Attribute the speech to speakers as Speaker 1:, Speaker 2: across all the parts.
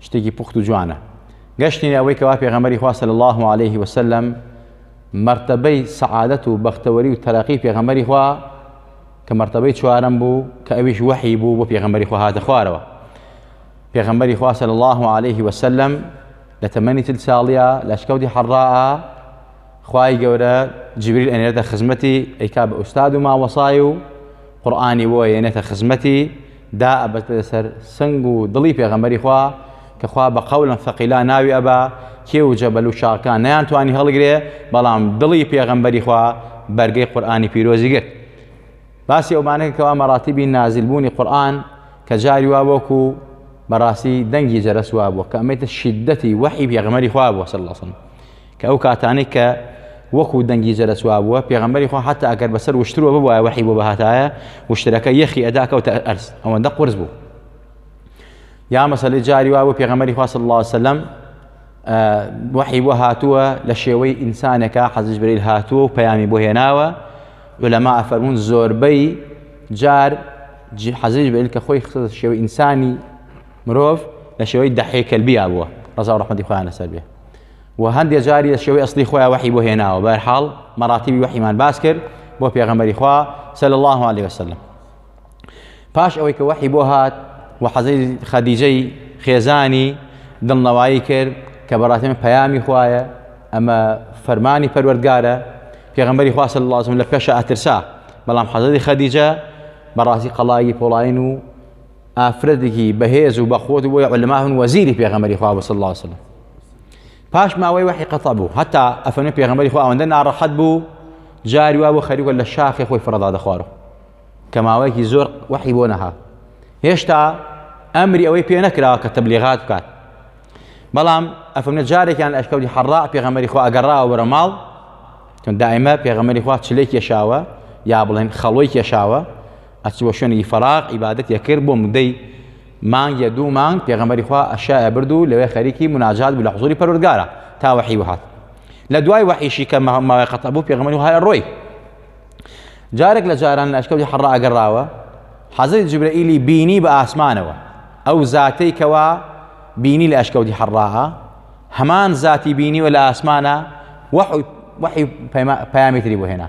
Speaker 1: شتێکی پوخت و جوانە گەشتینە ئەوەی کەوا پێغەمبەری خوا صلی الله علیه و سلم مرتبەی سعادەت و بەختەوەری و تەرەقی پێغەمبەری خوا کە مرتبەی چوارم بوو کە ئەویش وحی بوو بۆ پێغەمبەری خوا هاتە خوارەوە پێغەمبەری خوا صلی الله علیه و سلم لە تەمەنی تل ساڵیە لە شکەوتی حەڕا خوای گەورە جبریل ئەنێرێتە خزمەتی ئەیکا بە ئوستاد و ماوەسای و قورآانی بۆ ئەێنێتە خزمەتی دا ئەبەستە لەسەر سنگ و دڵی پێغەمبەری خوا کە خوا بە قەولا ثەقیلا ناوی ئەبا کێ و جەبەل و شاخەکان نەیان توانی هەڵگرێ بەڵام دڵی پێغەمبەری خوا بەرگەی قورئانی پیرۆزی گرت باسی ئەومانەکە کەوا مەراتیبی نازل بوونی قورئان کە جاری وا وەکو بەڕاستی دەنگی جەرەس وا بووە کە ئەمەیتە شیدەتی وەحی پێغەمبەری خوا بووە صلی الله علیه وسلم کە ئەو کاتانەی کە وەکو دەنگی جەرەس وابووە پێغەمبەری خوا حتا ئەگەر بەسەر وشتروە ببوایە وحی بۆ بەهاتایە وشترەکە یەخی ئەدا کەوتە ئەرز ئەوەندە قرس بوو یا مەسەلی جاری وابوو پێغەمبەری خوا صلی الله عليه وسلم وحی بۆ هاتووە لە شێوەی ئینسانەکە حەزیش بریل هاتووە و پەیامی بۆ هێناوە لەما ئەفەرمونون زۆربەی جار حەزیش بریل کە خۆی خستە شێوەی ئینسانی مرۆڤ لە شێوەی دەحێکەلبیا بووە ڕزا ڕحمەتی خۆیان لەسەر بێ وە هەندێ جاری لە شێوەی ئەسڵی خۆیان وەحی بۆ هێناوە بە هەر حاڵ مەراتیبی وەحیمان باس کرد بۆ پێغەمبەری خوا صلی الله علیه وسلم پاش ئەوەی کە وەحی بۆ هات و حەزەی خەدیجەی خێزانی دڵنەوایی کرد کە بەڕاستی من پەیامی خوایە ئەمە فەرمانی پەروەردگارە پێغەمبەری خوا صلی الله علیه وسلم لە پێشە ئەترسا بەڵام حەزەی خەدیجە بەڕاستی قەڵایی پۆڵاین و ئافرەتێکی بەهێز و بەخۆت و بۆی علما هەن وەزیری پێغەمەری خوا بەسە الله وسلم پاش ماوەی وەحی قەتە بوو هەتا ئەفەنە پێغەمەری خوا ئەوەندە ناڕەحەت بوو جاری وا بۆ خەریوە لە شاخی خۆی فڕەدا دەخوارو کە ماوەیەکی زۆر وەحی بۆ نەها هێشتا ئەمری ئەوەی پێ نەکرا کە تەبلیغات بکات بەڵام ئەفەمنە جارێکیان لە ئەشکەوتی حەڕا پێغەمەری خوا ئەگەڕاوە وەرە ماڵ دائمە پێغەمەری خوا چلێک کێشاوە یا بڵێن خەڵۆی کێشاوە ئەچووە شوێنێکی فەراغ عیبادەتی ئەکرد بۆ مدەی مانگ یا دوو مانگ پێغەمبەری خوا ئەشای ئەبرد و لەوێ خەریکی مناجات بوو لە حضوری پەروەردگارە تا وەحی وهات لە دوای وەحیشی کە ماوەی قەتە بوو پێغەمبەری وهای ڕۆی جارێک لە جاران لە ئەشکەوتی حەڕ ئەگەڕاوە حەزەی جبرەئیلی بینی بە ئاسمانەوە ئەو زاتەی کەوا بینی لە ئەشکەوتی حەڕاها هەمان زاتی بینیوە لە ئاسمانە وەحی پەیامێتری بۆ هێنا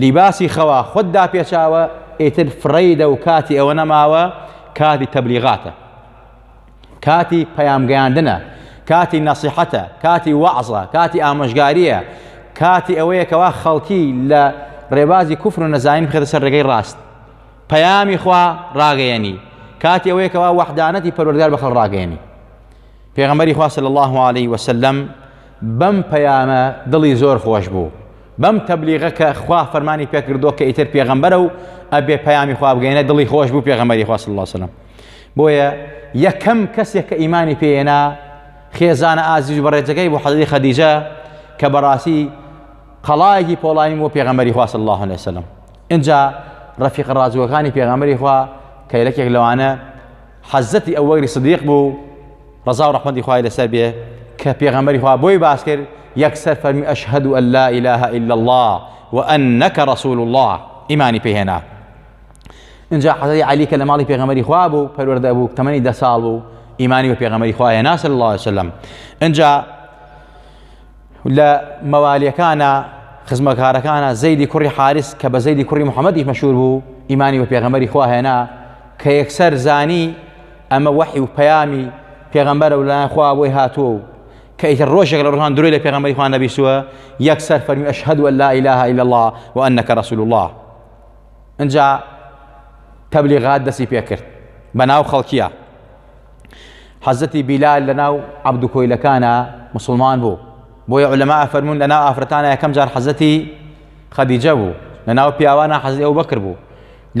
Speaker 1: لیباسی خەوا خۆت داپێچاوە ئیتر فڕەیدە و کاتی ئەوە نەماوە کاتی تەبلیغاتە کاتی پەیامگەیاندنە کاتی نەسیحەتە کاتی وەعزە کاتی ئامۆژگاریە کاتی ئەوەیە کەوا خەڵکی لە ڕێبازی کوفر و نەزانین بخێتە سەر ڕێگەی ڕاست پەیامی خوا ڕاگەیەنی کاتی ئەوەیە کەوا وەحدانەتی پەروەردگار بە خەڵ ڕاگەیەنی پێغەمبەری خوا صلی الله عليه وسلم بەم پەیامە دڵی زۆر خۆش بوو بەم تەبلیغە کە خوا فەرمانی پێکردووە کە ئیتر پێغەمبەرە و ئەبێ پەیامی خوا بگەینە دڵی خۆش بوو پێغەمەری خوا صلی الله علیه وسلم بۆیە یەکەم کەسێک کە ئیمانی پێێنا خێزانە ئازیز و بەڕێجەکەی بۆ حەزری خەدیجە کە بەڕاستی قەڵایەکی پۆڵایی بۆ پێغەمەری خوا صلی الله علیه وسلم اینجا ڕەفیق ڕازوەکانی پێغەمەری خوا کە یەکێک لەوانە حەزرەتی ئەبوبەکری سدیق بوو ڕەزا و ڕەحمەتی خوای لەسەر بێ کە پێغەمبەری خوا بۆی باس کرد یەکسەر فەرمی ئەشهەد و لا ئیلاهە الا الله و ئەنەکە ڕەسول الله ئیمانی پێهێنا اینجا حەزری علی کە لە ماڵی پێغەمەری خوا بوو پەروەردە بوو تەمەنی دە ساڵ بوو ئیمانی بە پێغەمەری خوا هێنا صلی الله عليه وسلم اینجا لە مەوالیەکانە خزمەکارەکانە زەیدی کوڕی حارس کە بە زەیدی کوڕی محەممەدیش مەشهور بوو ئیمانی بە پێغەمەری خواهێنا کە یەکسەر زانی ئەمە وەحی و پەیامی پێغەمبەرە و لایەن خوا بۆی هاتووە و کە ئیتر ڕۆژێک لە ڕۆژان درۆی لە پێغەمبەری خوا نەبیسووە یەکسەر فەرمی ئەشهد و لا ئیلاها الا الله و انک رسول الله انجا تبلیغات دەسی پێکرد بەناو خەڵکیە حەزەتی بیلال لە ناو عەبدو کۆیلەکانە مسلمان بوو بۆیە علەما ئەفەرمون لە ناو ئافرەتانە یەکەم جار حەزەتی خەدیجە بوو لە ناو پیاوانە حەزی ئەو بەکر بوو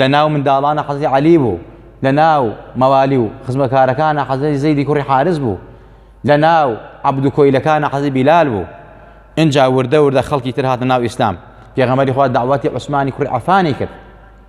Speaker 1: لە ناو منداڵانە حەزی عەلی بوو لە ناو مەوالی و خزمەکارەکانە حەزەتی زەیدی کوڕی حارس بوو لە ناو عەبدو کۆیلەکانە حەزی بیلال بوو اینجا وردە وردە خەڵکی تر هاتە ناو ئیسلام پێغەمەری خوا داواتی عوسمانی کوڕی عفانی کرد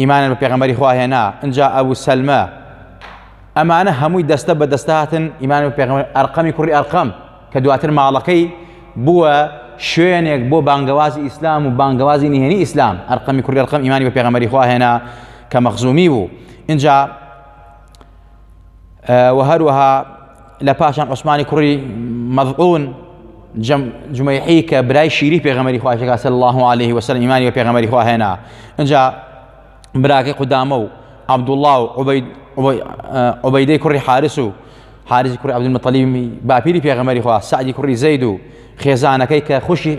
Speaker 1: ئیمانیان بە پێغەمبەری خوا هێنا ئنجا ئەبو سەلمە ئەمانە هەمووی دەستە بە دەستهاتن ئیمان بە پێغەمبەر ئەرقەمی کوڕی ئەرقەم کە دواتر ماڵەکەی بووە شوێنێک بۆ بانگەوازی ئیسلام و بانگەوازی نهێنی ئیسلام ئەرقەمی کوڕی ئەرقەم ئیمانی بە پێغەمبەری خوا هێنا کە مەخزومی بوو اینجا و هەروەها لە پاشان عوسمانی کوڕی مەزعون جمەیحی کە برای شیری پێغەمەری خواشەکە سەر الله عليه وسلم ئیمانی بە پێغەمەری خواهێنا اینجا براکەی قودامە و عبدوڵڵا و عبەیدەی کوڕی حارس و حارسی کوڕی عبدمەتەلیمی باپیری پێغەمەری خوا سعدی کوڕی زەید و خێزانەکەی کە خوشی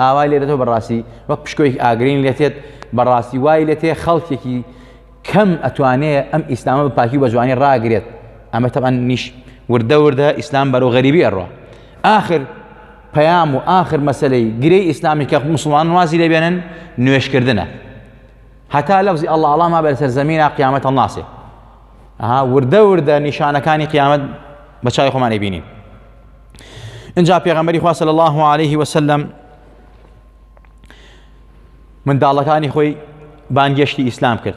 Speaker 1: ئاوای لێ دەتەوە بەڕاستی وەک پشکۆیەکی ئاگرین لێ تێت بەڕاستی وای لێ تێ خەڵکێکی کەم ئەتوانێ ئەم ئیسلامە بە پاکی و بە جوانی ڕاگرێت ئەمە تەبان نیش وردە وردە ئیسلام بەرەو غەریبی ئەڕۆ آخر پەیام و آخر مەسلەی گرێی ئیسلامی کە مسلمان وازی لێ بێنن نوێشکردنە هەتا لەفزی ئەڵ ئاڵاما بەر سەر زمینە قیامەت هەڵناسێ ئەها وردە وردە نیشانەکانی قیامەت بە چای خۆمانی بینین انجا پیغمبری خوا صلی الله علیه و سلم من دالکانی خوی بانگشتی اسلام کرد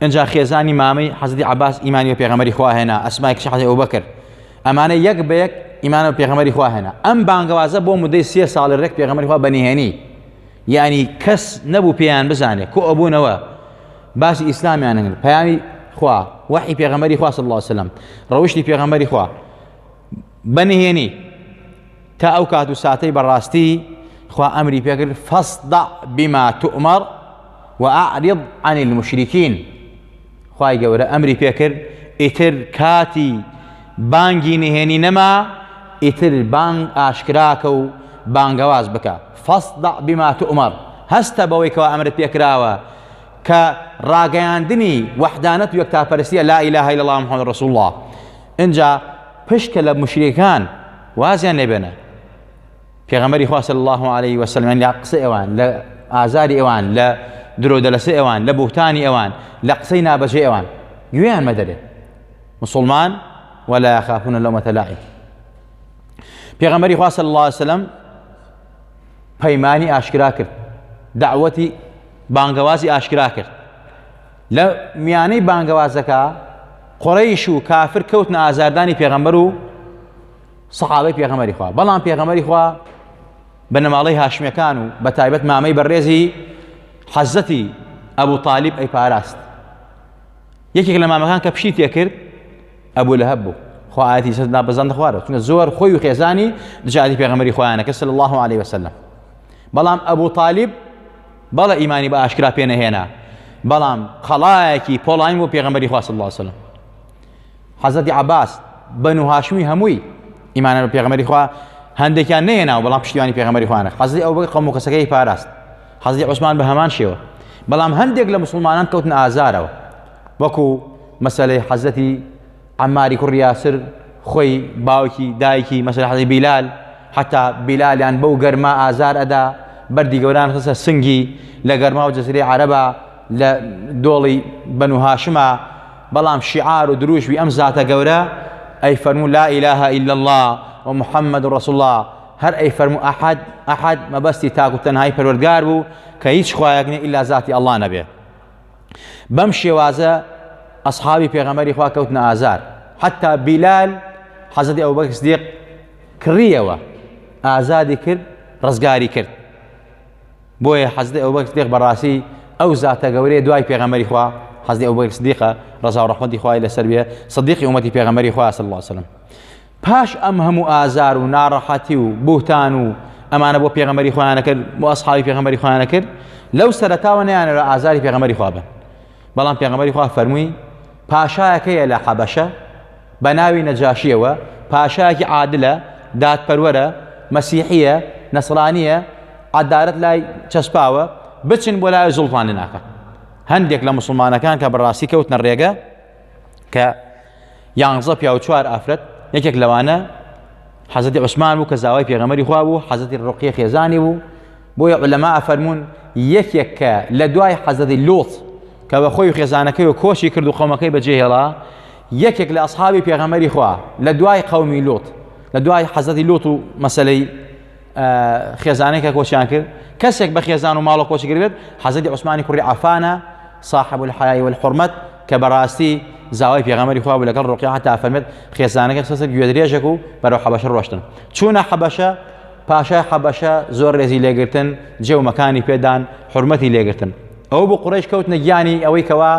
Speaker 1: انجا خیزانی مامی حضرت عباس ایمانی و پیغمبری خوا هنا اسماء کش حضرت ابوبکر امانه یک به یک ایمان و پیغمبری خوا هنا ام بانگوازه بو مدی سی سال رک پیغمبری خوا بنی هنی یعنی کس نبو پیان بزانه کو ابو نوا باس اسلام یعنی پیانی خوا وحی پیغمبری خوا صلی الله علیه و سلم روشتی پیغمبری خوا بە نهێنی تا ئەو کات و ساتەی بەڕاستی خوا ئەمری پێکرد فەسدع بما تؤمر وأعرض عن المشركين خوای گەورە ئەمری پێکرد ئیتر کاتی بانگی نهێنی نەما ئیتر بانگ ئاشکراکە و بانگەواز بکە فەسدع بما تؤمر هەستە بەوەی کەوا ئەمرت پێکراوە کە ڕاگەیاندنی وەحدانەت و یەکتاپەرستیە لا ئیلاهە الا الله محمد رسول الله ئینجا پشکە لە موشریکان وازیان لێ بێنە پێغەمبەری خوا صلی الله علیه و سلم لە قسە ئێوان لە ئازاری ئێوان لە درۆ دەلەسە ئێوان لە بوختانی ئێوان لە قسەی نابەجێ ئێوان گوێیان مەدەرێ مسلمان ولا يخافون لومة لائم پێغەمبەری خوا صلی الله علیه و سلم پەیمانی ئاشکرا کرد دعوەتی بانگەوازی ئاشکرا کرد لە میانەی بانگەوازەکە قڕەیش و کافر کەوتنە ئازاردانی پێغەمبەر و سەحابەی پێغەمەری خوا بەڵام پێغەمەری خوا بە نەماڵەی هاشمەکان و بە تایبەت مامەی بەڕێزی حەزەتی ئەبوو تاالب ئەی پاراست یەکێک لە مامەکان کە پشی تێکرد ئەبوو لە هەبوو خواهاتی سەدا بەزان دەخوارە چونە زۆر خۆی و خێزانی دژاتی پێغەمەری خۆیانەکە سل الله عليه وسلم بەڵام ئەبوو تاالب بەڵێ ئیمانی بە ئاشکرا پێ نەهێنا بەڵام قەڵایەکی پۆڵاین بۆ پێغەمبەری خوا صلی الله علیه وسلم حەزەتی عباس بەنو هاشمی هەمووی ئیمانە بە پێغەمبەری خوا هەندێکیان نەیەنا و بەڵام پشتیوانی پێغەمبەری خوانە حەزی ئەو بەگە قەوم و کەسەکەی پاراست حەزی عوسمان بە هەمان شێوە بەڵام هەندێک لە مسلمانان کەوتن ئازارەوە وەکو مەسلەی حەزەتی عەماری کوڕی یاسر خۆی باوکی دایکی مەسەلە حەزی بیلال حتا بیلالیان بەو گەرما ئازار ئەدا بەردی گەوران خسە سنگی لە گەرما و جززیری عربە لە دۆڵی بەنوهاشما بەڵام شیعار و دروشوی ئەم زاتە گەورە ئەی فەرمو لا ئیلاها ئیلا الله و محمد و رسول الله هەر ئەی فەرمو ئەحد ئەحد مەبەستی تاکو تەنهای پەروەردگار بوو کە هیچ خوایەک نیە ئیلا زاتی ئەڵا نەبێ بەم شێوازە ئەسحابی پێغەمەری خوا کەوتنە ئازار حتا بیلال حەزەتی ئەو بەکس دێق کڕیەوە ئازادی کرد ڕزگاری کرد بۆیە حەزدە ئەو بەکس دێق بەڕاستی ئەو زاتە گەورەیە دوای پێغەمەری خوا حەزدی ئەو بەکس دیقە ڕزا و ڕحمەتی خوای لەسەر بێ صدیقی ومەتی پێغەمەری خوا صلی الله وسلم پاش ئەم هەموو ئازار و ناڕەحەتی و بوهتان و ئەمانە بۆ پێغەمەری خۆیانە کرد بۆ ئەسحابی پێغەمەری خۆیانە کرد لەو سەرتاوە نەیانەوە ئازاری پێغەمەری خوا بن بەڵام پێغەمەری خوا فەرمووی پاشایەکەیە لە حەبەشە بە ناوی نەجاشیەوە پاشایەکی عادلە دادپەروەرە مەسیحیە نەسرانیە عدالت لای چەسپاوە بچن بۆ لای زوڵتان لە ناکە هەندێک لە مسلمانەکان کە بەڕاستی کەوتنە ڕێگە کە یانزە پیا و چوار ئافرەت یەکێک لەوانە حەزەتی عوسمان بوو کە زاوای پێغەمەری خوا بوو حەزەتی ڕقیە خێزانی بوو بۆیە لەما ئەفەرمونون یەکێک کە لە دوای حەزەتی لۆت کە بە خۆی و خێزانەکەی و کۆشی کرد و قەومەکەی بەجێهێڵا یەکێک لە ئەسحابی پێغەمەری خوا لە دوای قەومی لۆت لە دوای حەزەتی لۆت و مەسلەی خێزانێک کە کۆچیان کرد کەسێک بە خێزان و ماڵە کۆچگر بێت حەزەتی عوسمانی کوڕی عفانە صاحب الحیای والحرمت کە بەڕاستی زاوای پێغەمەری خوا لەگەڵ ڕۆقی هەتا فەرمێت خێزانەکە سەسە گوێدرێژێک و بەرەو حەبەشە ڕۆشتن چوونە حەبەشە پاشای حەبەشە زۆر ڕێزی لێگرتن جێومەکانی پێدان حرمەتی لێگرتن ئەو بۆ قڕێش کەوت نەگیانی ئەوەی کەوا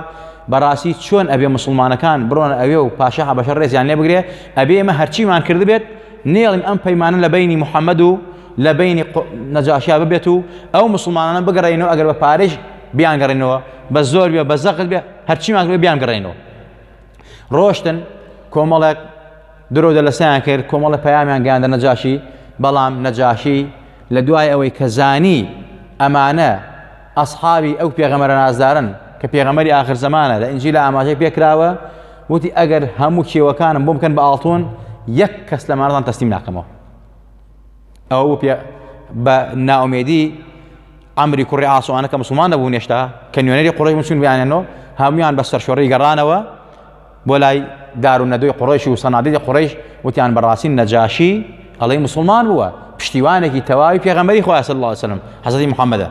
Speaker 1: بەڕاستی چۆن ئەبێ مسلمانەکان بڕۆن ئەوێ و پاشا حەبەشە ڕێزیان لێ بگرێ ئەبێ ئمە هەرچیمان کردبێت نێڵین ئەم پەیمانە لە بەینی محەممەد و لە بەینی نەجاشیا ببێت و ئەو مسلمانانە بگەڕێنەوە ئەگەر بە پارێش بیانگەڕێنەوە بە زۆر بێ بە زەقت بێ هەرچیمان بێ بیانگەڕێنەوە ڕۆشتن کۆمەڵێک درۆ دەلەسەیان کرد کۆمەڵە پەیامیان گەیاندە نەجاشی بەڵام نەجاشی لە دوای ئەوەی کە زانی ئەمانە ئەسحابی ئەو پێغەمەرە نازدارن کە پێغەمەری آخر زمانە لە ئنجی لە ئاماژەی پێکراوە وتی ئەگەر هەموو کێوەکانم بۆ بکەن بە ئاڵتون یەک کەس لە مارزان تەسلیم ناکەمەوە ئەو پێ بە ناومێدی ئەمری کوڕی ئاسوانە کە مسلمان نەبوو نێشتا کە نوێنەری قڕی مسون بیانێنەوە هەمویان بە سەرشۆڕی گەڕانەوە بۆ لای دار و نەدوی قڕیش و سەنادی قڕیش وتیان بەڕاستی نەجاشی ئەڵی مسلمان بووە پشتیوانێکی تەواوی پێغەمەری خۆیاسە الله وسلم حەزی محەممەدە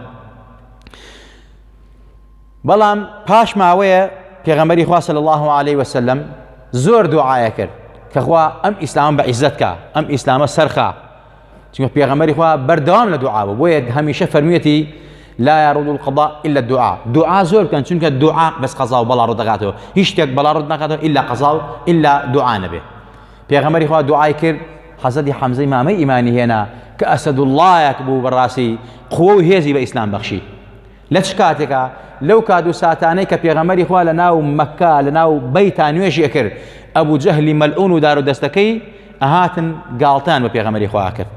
Speaker 1: بەڵام پاش ماوەیە پێغەمبەری خوا صلی الله علیه و سلم زۆر دوعاە کرد کە خوا ئەم ئیسلام بە عیزت کا ئەم ئیسلامە سەرخا چونکە پێغەمبەری خوا بەردەوام لە دوعا بوو بۆیە هەمیشە فەرمیەتی لا يرد القضاء الا الدعاء دعا زۆر بکەن چونکە دعا بەس قەزا و بەڵا ڕدەگاتەوە هیچ شتێک بەڵا ڕد ناکاتەوە الا قەزا و الا دعا نەبێ پێغەمبەری خوا دوعای کرد حەزەتی حەمزەی مامەی ئیمانی هێنا کە ئەسەد اللهەک بوو بەڕاستی قوە و هێزی بە ئیسلام بەخشی لە چ کاتێکا لەو کات و ساتانەی کە پێغەمەری خوا لە ناو مەکە لە ناو بەیتا نوێژی ئەکرد ئەبوو جەهلی مەلعون و دار و دەستەکەی ئەهاتن گاڵتان بە پێغەمەری خوا کرد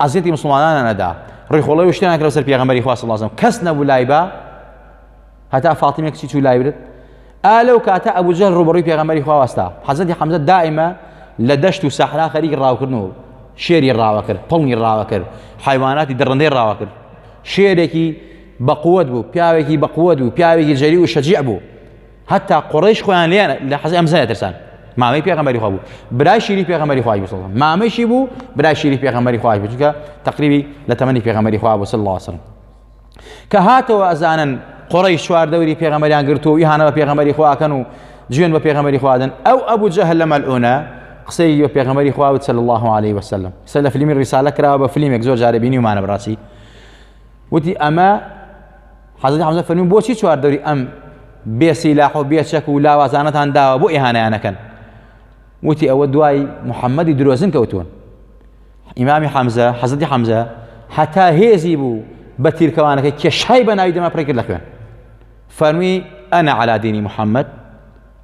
Speaker 1: ئازیەتی مسلمانانە نەدا ڕیخۆڵی و شتیان کرد سەر پێغەمەری خوا سڵازم کەس نەبوو لای بە هەتا فاتیمە کچی چوو لای برد ئا لەو کاتە ئەبوو جەهل ڕوبڕی پێغەمەری خوا واستا حەزەتی حەمزە دائیمە لە دەشت و سەحرا خەریکی ڕاوکردن و شێری ڕاوە کرد پڵنی ڕاوە کرد حیواناتی دڕندەی ڕاوە کرد شێرێکی بەقوەت بوو پیاوێکی بەقوەت بوو پیاوێکی جەری و شەجیع بوو هەتا قڕیش خۆیان لێ لە حەزی ئەم زنە ترسان مامەی پێغەمبەری خوا بوو برای شیری پێغەمبەری خوای بوو سەڵم مامەشی بوو برای شیری پێغەمبەری خوای بوو چونکە تقریبی لە تەمەنی پێغەمبەری خوا بوو صلی الله وسلم کە هاتەوە ئەزانن قڕی چوار دەوری پێغەمبەریان گرتو و یهانەوە پێغەمبەری خواکەن و جوێن بە پێغەمبەری خوادن ئەو ئەبوو جەهل لە مەلعونە قسەی بە پێغەمبەری خوا بوو صلی الله عليه وسلم قسە لە فلیمی ڕیسالە کراوە بە فلیمێک زۆر جارە بینیومانە بڕاستی وتی ئەمە حەزەتی حەمزە فەرمی بۆچی چوار دەوری ئەم بێسی لاح و بێچەک و لاوازانەتان داوە بۆ ئێهانیانەکەن وتی ئەوە دوای محەممەدی درۆزن کەوتون ئیمامی حەمزە حەزەتی حەمزە هەتا هێزی بوو بە تیرکەوانەکە کێشای بە ناوی دەما پڕی کرد لە خوێن فەرمی ئەنا عەلادینی محەممەد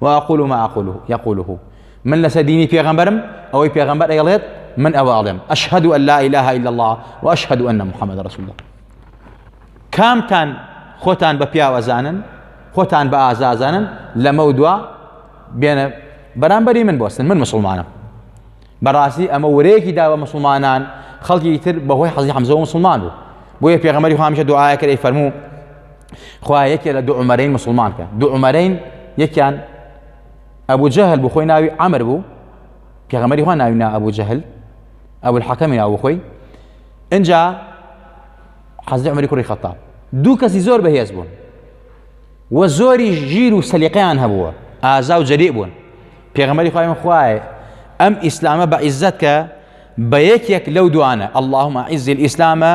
Speaker 1: و اقول ما اقوله يقوله من لەسەر دینی پێغەمبەرم ئەوەی پێغەمبەر ئەڵێت من ئەوە ئەڵێم اشهد ان لا اله الا الله واشهد ان محمد رسول الله کامتان خۆتان بە پیاوەزانن خۆتان بە ئازازانن لەمە و دوا بێنە بەرامبەری من بۆستن من مسلمانم بەڕاستی ئەمە ورەیەکی دا بە مسلمانان خەڵکی تر بەهۆی حەزی حەمزەوە مسلمان بوو بۆیە پێغەمەری خامیشە دوعاەکە ئەی فەرموو خوایە یەکێ لە دوو عومەرەین مسلمان کە دوو عومەرەین یەکیان ئەبوو جەهل بوو خۆی ناوی ئەمر بوو پێغەمەری خوا ناوی نا ئەبوو جەهل ئەو الحەکەمی ناو خۆی ئەجا حەزی عمری کوڕی خەتاب دوو کەسی زۆر بەهێز بوون و زۆری ژیر و سەلیقیان هەبووە ئازا و جەری بوون پێغەمەری خۆیان خوایە ئەم ئیسلامە بە عیزت کە بە یەکێک لەو دوانە اللهم عیزی ئیسلامە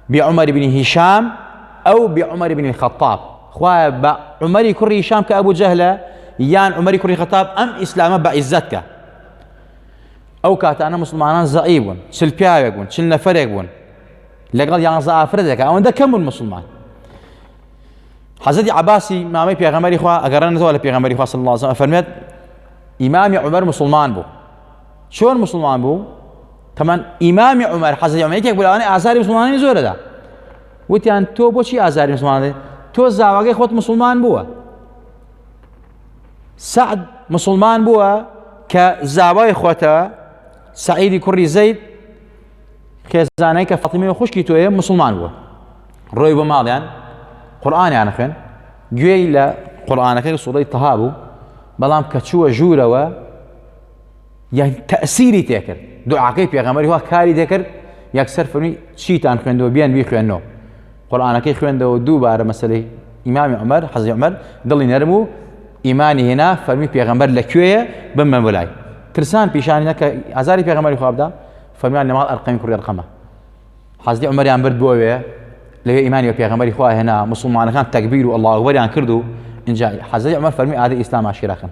Speaker 1: بی عمر بن هشام ئەو بی عمر بن الخطاب خوایە بە عمری کوڕی هشام کە ئەبوو جەهلە یان عمری کوڕی خەتاب ئەم ئیسلامە بە عیزت کە ئەو کاتانە مسلمانان زەعی بوون چل پیاوێک بوون چل نەفرێک بوون لەگەڵ یانزە ئافرەتێکە ئەوەندە کەم بوون مسلمان حەزەتی عباسی مامەی پێغەمەری خوا ئەگەڕێنەوە لە پێغەمەری خوا صلی الله عليه وسلم فەرمێت ئیمامی عمر مسلمان بوو چۆن مسلمان بوو تەمان ئیمامی عمر حەزی عمر یەکێک بلاوانی ئازاری مسلمانانی زۆرەدا وتیان تۆ بۆچی ئازاری مسلمانانی تۆ زاواگەی خۆت مسلمان بووە سعد مسلمان بووە کە زاوای خۆتە سعیدی کوڕی زەید خێزانەی کە فەتیمی خوشکی تۆیە مسلمان بووە ڕۆی بۆ ماڵیان قورآانیان خوێن گوێی لە قورآانەکەی سوڵی تەها بوو بەڵام کە چووە ژوورەوە یان تەئسیری تێکرد دوعاکەی پێغەمبەری خوا کاری دەکرد یەکسەر فەرمی چیتان خوێندەوە بیان بی خوێندنەوە قورآانەکەی خوێندەوە دووبارە مەسلەی ئیمامی عمر حەزی عمر دڵی نەرم و ئیمانی هێنا فەرمی پێغەمبەر لە کوێیە بمە بلای ترسان پیشانی نەکە ئازاری پێغەمەری خوابدا فەرمیان لەماڵ ئەرقەمی کوڕی ڕقەمە حەزی عمەریان برد بۆوێ لەوێ ئیمانی و پێغەمەری خوا هێنا مسلمانەکان تەکبیر و ئەڵاوەریان کرد و اینجا حەزی عمر فەرمی ئادە ئیسلام عشیراکەن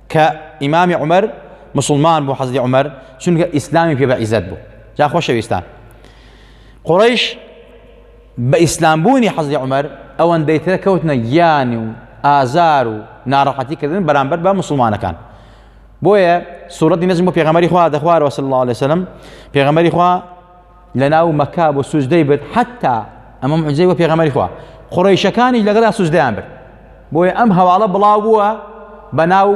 Speaker 1: کە ئیمامی عمر مسلمان بوو حەزی عمر چونکە ئیسلامی پێ بە عیزت بوو جا خۆشەویستان قڕیش بە ئیسلامبوونی حەزی عمر ئەوەن دەیترە کەوتنە گیانی و ئازار و ناڕەحەتی کردن بەرامبەر بە مسلمانەکان بۆیە سوورەتی نەزم بۆ پێغەمەری خوا دەخوارەوە سڵ لە سلم پێغەمەری خوا لەناو مەکا بۆ سوزدەی برد حتا ئەمە معجزەی بۆ پێغەمەری خوا قڕیشەکانیش لەگەڵا سوزدەیان برد بۆیە ئەم هەواڵە بڵاو بووە بە ناو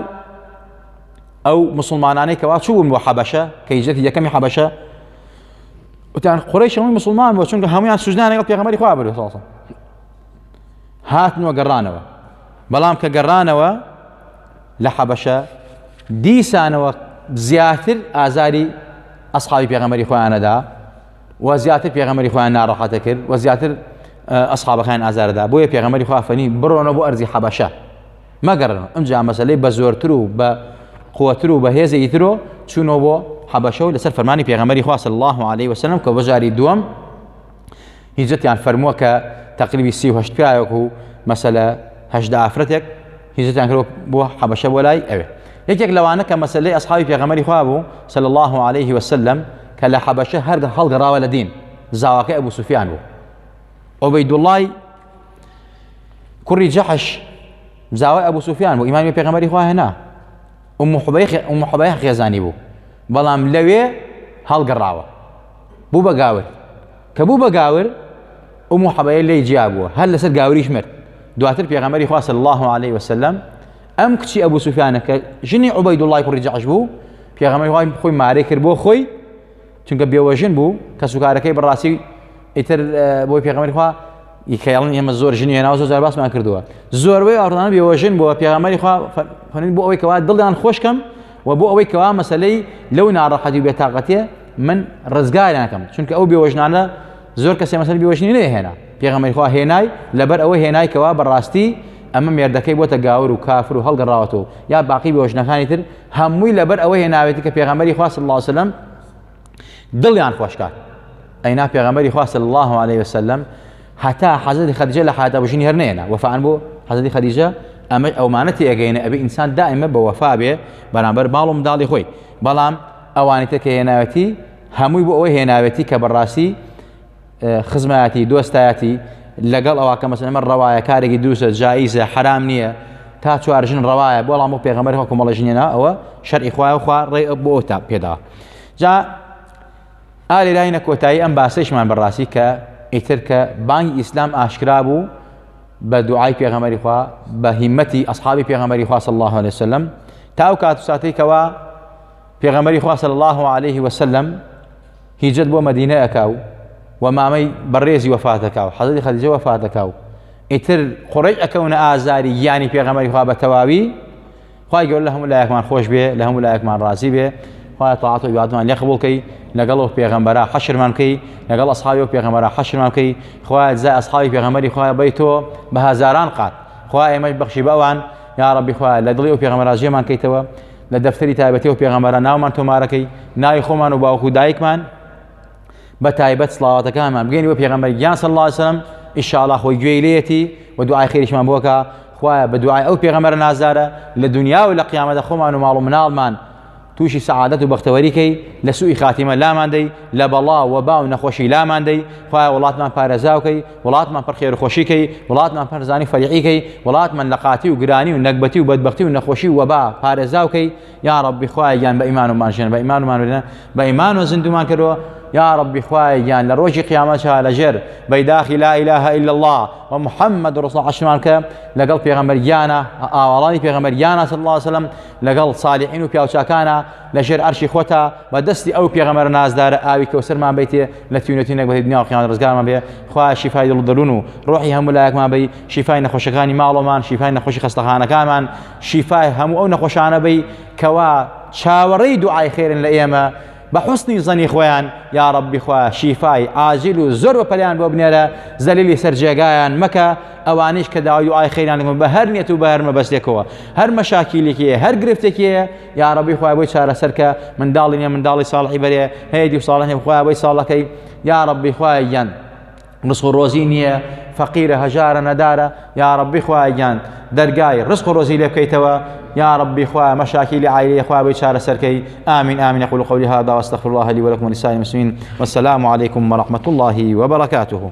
Speaker 1: ئەو مسلمانانەی کەوا چوون بۆ حەبەشە کە هیجرەتی یەکەمی حەبەشە وتیان قڕیش هەمووی مسلمان بۆ چونکە هەمویان سوزدان لەگەڵ پێغەمەری خوا برد ساڵ هاتنەوە گەڕانەوە بەڵام کە گەڕانەوە لە حەبەشە دیسانەوە زیاتر ئازاری ئەسحابی پێغەمبەری خۆیان نەدا و زیاتر پێغەمبەری خۆیان ناڕەحەتە کرد و زیاتر ئەسحابەکان ئازاردا بۆیە پێغەمبەری خوا فەنی بڕۆنە بۆ ئەرزی حەبەشە مەگەڕن ئەمجا مەسلەی بە زۆرتر و بە قوتر و بەهێزە ئیترۆ چوونەوە بۆ حەبەشە و لەسەر فەرمانی پێغەمبەری خوا صلی الله عليه وسلم کە بەجاری دووەم هیجتیان فەرمووە کە تەقریبی سی و هەشت پیاوێک و مەسەلە هەشدا ئافرەتێک هیجتیان کرد بۆ حەبەشە بۆ لای ئەوێ یەکێک لەوانە کە مەسلەی ئەسحابی پێغەمەری خوا بوو سەل الله عليه وسلم کە لە حەبەشە هەر هەڵگەڕاوە لە دین زاواکە ئەبوو سوفیان بوو ئەوەی دوڵای کوڕی جەحش زاوای ئەبوو سوفیان بوو ئیمامی پێغەمەری خوا هێنا ئەم حبەیە خێزانی بوو بەڵام لەوێ هەڵگەڕاوە بوو بە گاور کە بوو بە گاور ئومو حەبەیە لێی جیا بووە هەر لەسەر گاوریش مرد دواتر پێغەمەری خواست الله عليه وسلم ئەم کچی ئەبوو سوفیانە کە ژنی عوبەی دوڵای کوڕی جەعش بوو پێغەمەری وای خۆی مارەی کرد بۆ خۆی چونکە بێوەژن بوو کە سوکارەکەی بڕاستی ئیتر بۆی پێغەمەری خوا ی کە یاڵن ئێمە زۆر ژنی هێناوە زۆر جار باسمان کردووە زۆربەی ئاڕدانە بێوەژن بۆ پێغەمەری خوا فەرین بۆ ئەوەی کەوا دڵیان خۆشکەم و بۆ ئەوەی کەوا مەسلەی لەو ناڕەحەتی بێتاقەتێ من ڕزگاریانەکەم چونکە ئەو بێوەژنانە زۆر کەسێ مەسەر بێوەژنی نێ هێنا پێغەمەری خوا هێنای لەبەر ئەوە هێنای کەوا بەڕاستی ئەمە مێردەکەی بۆتە گاور و کافر و هەڵگەڕاوەتەوە یا باقی بێوەژنەکانی تر هەمووی لەبەر ئەوە هێناوێتی کە پێغەمەری خوا صلی الله عليه وسلم دڵیان خۆش کات ئەینا پێغەمبەری خوا صلی الله علیه وسلم هەتا حەزرەتی خەدیجە لە حیاتا بژین هەر نێنا وەفان بۆ حەزرەتی خەدیجە ئەمە ئەومانە تێگەینە ئەبێ ئینسان دائمە بە وەفا بێ بەرامبەر باڵ و منداڵی خۆی بەڵام ئەوانی تەکە هێناوەتی هەمووی بۆ ئەوەی هێناوێتی کە بەڕاستی خزمایەتی دۆستایەتی لەگەڵ ئەوە کە مەسەن ئەمە ڕەوایە کارێکی دووسە جاییزە حرام نییە تا چوار ژن ڕەوایە بۆ ڵام و پێغەمەر هۆکو مەڵە ژنێنا ئەوە شەرعی خوای و خوا ڕێ بۆ تا پێدا جا ئالی لاینە کۆتایی ئەم باسەیشمان بەڕاستی کە ئیتر کە بانگی ئیسلام ئاشکرا بوو بە دوعای پێغەمەری خوا بە هیمەتی ئەصحابی پێغەمەری خوا صلی الله عليه وسلم تا ئەو کات و ساتێکەوە پێغەمەری خوا صلی الله عليه وسلم هیجرەت بۆ مەدینە ئەکا و وە مامەی بەڕێزی وەفات ئەکا و حەزرەتی خەدیجە وەفات ئەکا و ئیتر قوڕەیش ئەکەونە ئازاری گیانی پێغەمبەری خوا بە تەواوی خوای گەورە لە هەموو لایەکمان خۆش بێ لە هەموو لایەکمان ڕازی بێ خوای تاعات و عبادمان لێ قبول کەی لەگەڵ و پێغەمبەرا حەشرمان کەی لەگەڵ ئەصحابی و پێغەمبەرا حەشرمان کەی خوای جزای ئەصحابی پێغەمبەری خوای بەی تۆ بە هەزاران قات خوای ئێمەش بەخشی بەوان یا ربی خوای لە دڵی و پێغەمبەرا جێمان کەیتەوە لە دەفتەری تایبەتی و پێغەمبەرە ناومان تۆمارەکەی ناوی خۆمان و باوکو و دایکمان بە تایبەت سڵاواتەکانمان بگەین بە پێغەمبەر گیان صلی الله علیه وسلم ئیشاڵا خۆی گوێی لێتی و دوعای خێریشمان بۆکە خوایە بە دوعای ئەو پێغەمبەر نازارە لە دنیا و لە قیامەتە خۆمان و ماڵ و مناڵمان تووشی سەعادەت و بەختەوەریکەی لە سوئی خاتیمە لاماندەی لە بەڵا و با و نەخۆشی لاماندەی خوای وڵاتمان پارێزاوکەی وڵاتمان پڕ خێر و خۆشی کەی، وڵاتمان پڕ زانی و فەریحی کەی، وڵاتمان لە قاتی و گرانی و نەگبەتی و بەدبەختی و نەخۆشی و وەبا پارێزاو کەی، یا ڕەبی خوایە گیان بە ئیمانمان ژێن بە ئیمانمان مرێ بە ئیمانەوە زیندوومان کەرەوە، یا ڕەبی خوایە گیان لە ڕۆژی قیامەتشا لە ژێر بەیداخی لا الە الا اللە و محمد رسول اللە حەشرمان بکە لەگەڵ پێغەمبەر گیانە ئاواڵانی پێغەمبەر گیانە صلی اللە علیە وسلم لەگەڵ صالیحین و پیاوچاکانە، لە ژێر عەرشی خۆتا بە دەستی ئەو پێغەمەرە نازدارە ئاوی کەوسەرمان بیتێ لە تیونە تینێک بە دنیا و قیامەت ڕزگارمان بێ خوایە شیفای دڵ و دەروون و ڕۆحی هەموو لایەکمان بی شیفای نەخۆشەکانی ماڵەمان شیفای نەخۆشی خەستەخانەکانمان شیفای هەموو ئەو نەخۆشانە بی کەوا چاوەڕێی دوعای خێرن لە ئێمە بە حسنی زەنی خۆیان یا ڕبی خوا شیفای ئاجیل و زۆر بە پەلیان بۆ بنێرە زەلیلی سەر جێگایان مەکە ئەوانیش کە داوای دوعای خێران بە هەر نیەت و بە هەر مەبەستێکەوە هەر مەشاکیلێکی هەر گرفتێکی یاڕەبی خۆی بۆی چارەسەر کە منداڵی نیە منداڵی ساڵحی بەرێ هەیە دی ساڵە هەیە خۆی بۆی ساڵەکەی یاڕەبی خۆی گیان ڕسق و ڕۆزی نییە فەقیرە هەژارە نەدارە یاڕەبی خۆی گیان دەرگای ڕسق و ڕۆزی لێ بکەیتەوە یا ربی خوا مەشاکی لە عیلی خوا بۆی چارەسەرکەی ئامین ئامین قول قولی هذا واستغفر الله لي ولكم ولسائر المسلمين والسلام عليكم ورحمة الله وبركاته